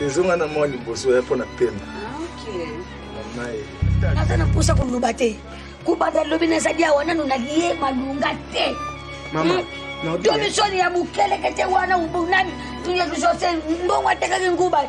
ezonga na mwa liboso ya mpo na pema mamaye naza na mposa koloba te kobanda lobi nazali awa nano nalie malunga te mama domisoni ya mokelekete wana ubunani tuyekisose mbongo atekaki nguba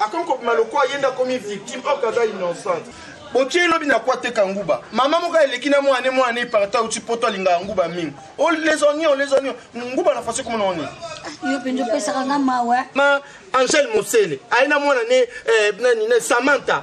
akomi kobima lokola ye nde akomi victime or kaza innocente botie lobi na kwa teka nguba mama moko eleki na mwana mwana eparta auti poto alingaka nguba mingi olesonio oh, olesonio oh, nguba na fasi komona oni yo mpenza opesaka nga mawa ma angele mosele aye na mwana ne eh, nani ne samantha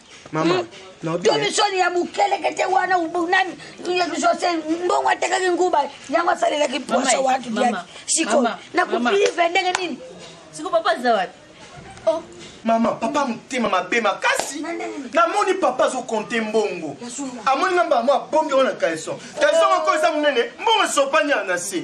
mama hmm? tomisoni ya mokelekete wana nani jose mbongo atekaki nguba yango asalelaki posa watu diaki sikoyo nakopive ndenge nini siko papa aza wapi oh. mama papa motema mabe makasi namoni papa azokonte mbongo amoni nga mbala mwa abombi yango na caleson caleson moko eza monene mbongo esopani ya na se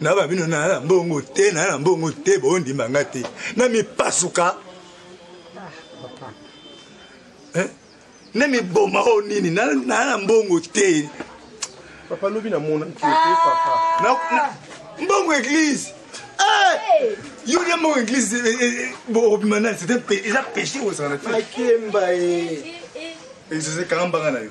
na ba bino na na mbongo te na na mbongo te bondima nga te na mipasuka eh? na miboma oyo nini na na mbongo te papa lobi namonaki te papa mbongo eglise eh! yo ya mbongo eglise eh, eh, bobima nani eza péché ozala na te akemba e ezosekanga mbanga na yo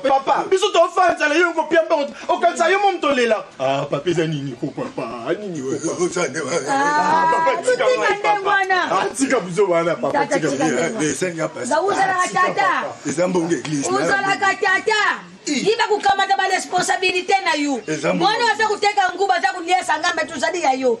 Papa, biso to fa nzala yo ko pia mbongo. Okanisa yo mom to lela. Ah, papa eza nini ko papa? Ah, nini ko papa? Ah, papa tika ngai papa. Ah, tika buzo wana papa tika. Eh, senga papa. Za uzala tata. Eza mbongo église. Uzala tata. yiba kukamata baresponsabilité na yo mwana aza kuteka nguba aza kuliesa ngambe tozali ya yo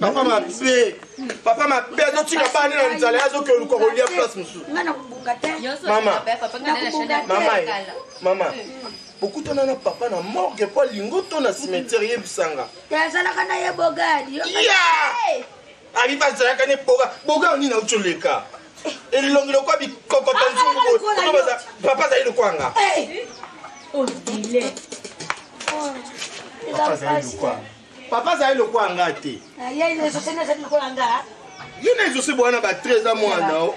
papa mabe papa mabe azotika bani na nzala azoki oluka kolia place mosusu mama bokutana na papa na morgue mpo alingo to na cimetière yebisanga azalaka na ye bogadi abi bazalaka ne boga boga nini auti oleka elongi lokwa bikokota nzungu papa azali lokwanga papa azali lokwanga papa azali lokola nga te ye na ezosi bwana ba 13 a mwana o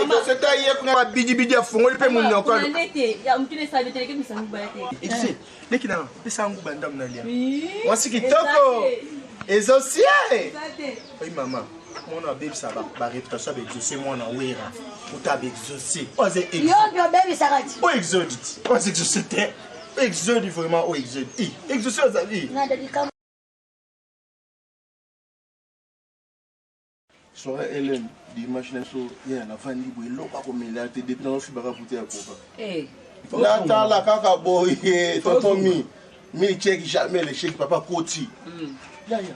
ekoseta ye kuna babidibidi afungoli mpe monoko leki na pesa nguba ndambo na lia mwasi kitoko ezosi ye oyi mama mwana abebisa bareputation ya baexauce mwana wera uta baexauce oyo exauce te Exode vraiment oh exode. Eh, exode ça azali. Soirée Hélène, dimanche na so ya na vandi bo eloko ko mela te depuis na fibaka bouteille ya coca. Eh. Natala kaka boye totomi. Mi check jamais le check papa koti. Mm. Ya ya.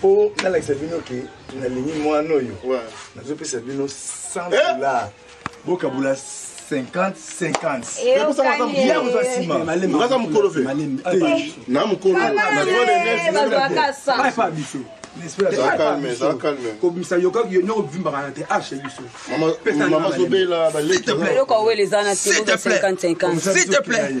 po nalakisa bino ke nalingi mwana oyo nazopesa bino 100 eh! dollars bokabula 50 50yakozwa nsimaza mokolo fe na mokolo biso kobimisa yoko bivimbaka na te arche biso mama zobela balekioka wele eza na te 50 50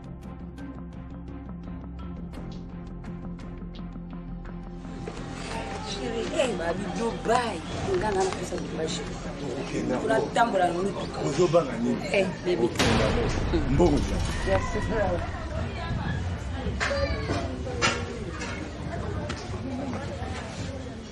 ozobanga ninimbogo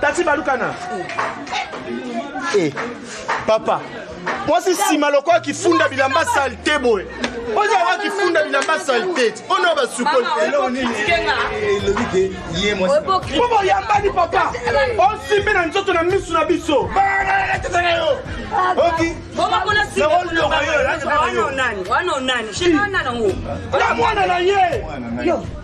tati balukana hey, eh, papa mwasi nsima lokola kifunda bilamba salte boye oza wa kifunda bilamba salte ona basukoli po boyambani papa osimbi na nzoto na misu na biso na mwana na ye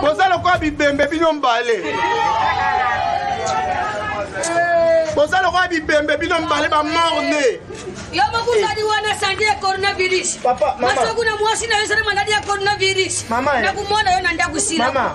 boza lokola bibembe bino mbale boza lokola bibembe bino mbale bamorne yo moko ozali wana sandi ya coronavirus masoku na mwasi na yo ezali maladi ya coronavirus nakomona yo na ndako sila